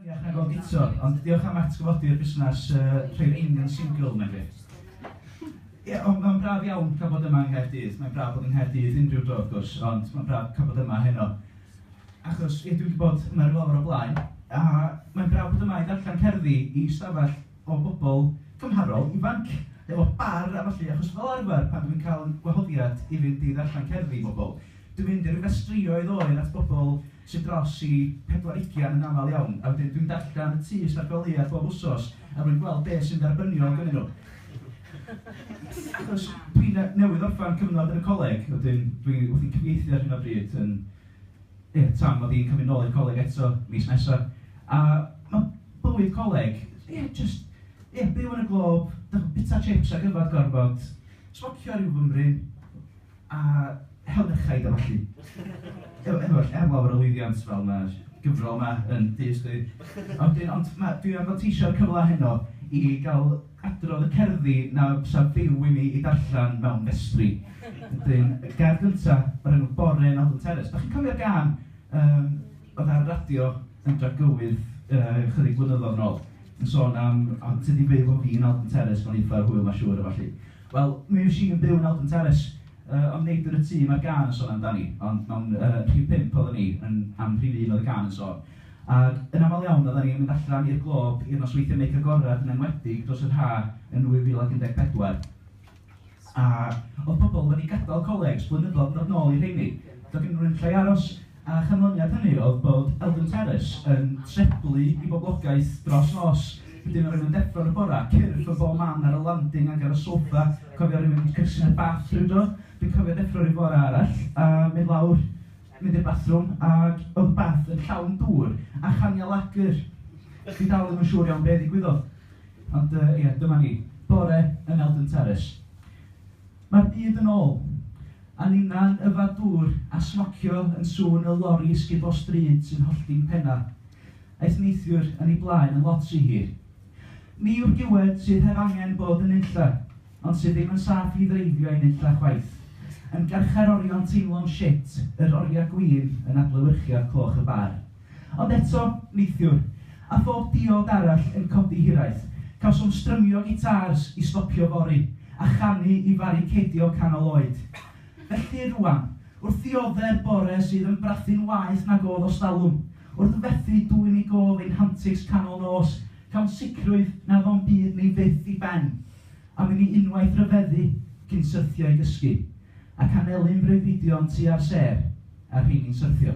Iach nag oedd Guto, ond diolch am atgyfodi'r busnes rhoi'r Einion Single, mae'n grêt. Ie, ond mae'n braf iawn cael bod yma yng Nghaerdydd, mae'n braf bod yng Nghaerdydd unrhyw dro wrth gwrs, ond mae'n braf cael bod yma heno. Achos, ie, dwi wedi bod yma ryw lawer o blaen, a mae'n braf bod yma i ddarllen cerddi i stafell o'n bobl cymharol ifanc efo bar a ballu achos fel arfer pan dw i'n cael gwahoddiad i fynd i ddarllen cerddi i bobl dw i'n mynd i ryw gastrïoedd oer at bobl sydd dros i pedwar ugian yn aml iawn a wedyn dw i'n darllen y tŷ Ysbyty Gwlad Lleiaf bob wsos er mwyn gweld be sy'n dderbyniol gynnyn nhw achos dw i newydd orffen cyfnod yn y coleg wedyn dw i wrthi'n cyfieithu ar hyn o bryd yn Ie, Tam, mod i'n cymryd nôl i'r coleg eto mis nesa, a ma' bywyd coleg, ie, jyst, ie, byw yn y glob, dych- bita chips ac yfed gormod, smocio ryw fymryn, a hel merchaid a ballu. Ef- efo llawer o lwyddiant fel ma'r gyfrol 'ma yn diystyru. A wedyn, ond ma', dwi am fanteisio'r cyfle heno i ga'l Adrodd y cerddi na fysa Duw i mi i darllen mewn vestry. Wedyn, y gerdd gynta, o'r enw Bore yn Alton Terrace. Dach chi'n cofio'r gân yym oedd ar y radio yn Dragywydd yy chydig flynyddoedd yn ôl, yn sôn am o ti 'di byw efo fi yn Alton Terrace, mae'n eitha hwyl mae'n siŵr a ballu. Wel, mi fues i yn byw yn Alton Terrace, yy ond nid yn y tŷ mae'r gân yn sôn amdani, ond mewn yy rhif pump oedden ni, yn am rhif un oedd y gân yn sôn. Ac yn aml iawn oeddan ni'n mynd allan i'r Glob i'r nosweithiau meic agored, yn enwedig dros yr haf yn 2014. A oedd pobl wedi gadael coleg 's blynyddoedd yn dod nôl i'r rheini. Doedd gennyn nhw ddim lle i aros. A chanlyniad hynny oedd bod Eldon Terrace yn treblu i boblogaeth dros nos. Hyd yn oed rhywun yn deffro yn y bore, cyrff yn bob man ar y landing ac ar y soffa. Cofio rhywun yn cysylltu â bath rhywdro? Dwi'n cofio deffro rhyw fore arall a mynd lawr mynd i'r bathrwm ag oedd Beth yn llawn dŵr a chaniau lager. Dwi dal ddim yn siŵr iawn be ddigwyddodd. Ond yy ie, dyma ni. Bore yn Eldon Terrace. Mae'r byd yn ôl. A ninna'n yfad dŵr a smocio yn sŵn y lori sgubor stryd sy'n hollti'n pennau. Aeth neithiwr yn ei blaen yn lot rhy hir. Ni yw'r diwedd sydd heb angen bod yn nunlle, ond sydd ddim yn saff i ddreifio i nunlle chwaith. Yn garchar orion teimlo'n shit, yr oriau gwin yn adlewyrchiad cloch y bar. Ond eto, neithiwr, a phob diod arall yn codi hiraeth, cawsom strymio gitars i stopio fory, a chanu i faricedio canol oed. Felly rŵan, wrth ddiodde'r bore sydd yn brathu'n waeth nag o'dd ostalwm, Wrth fethu dwyn i gôl ein hantics canol nos, cawn sicrwydd nad o'n byd ni fyth i ben, am i ni unwaith ryfeddu cyn syrthio i gysgu, ac anelu'n freuddwydion tua'r sêr a'r rheini'n syrthio.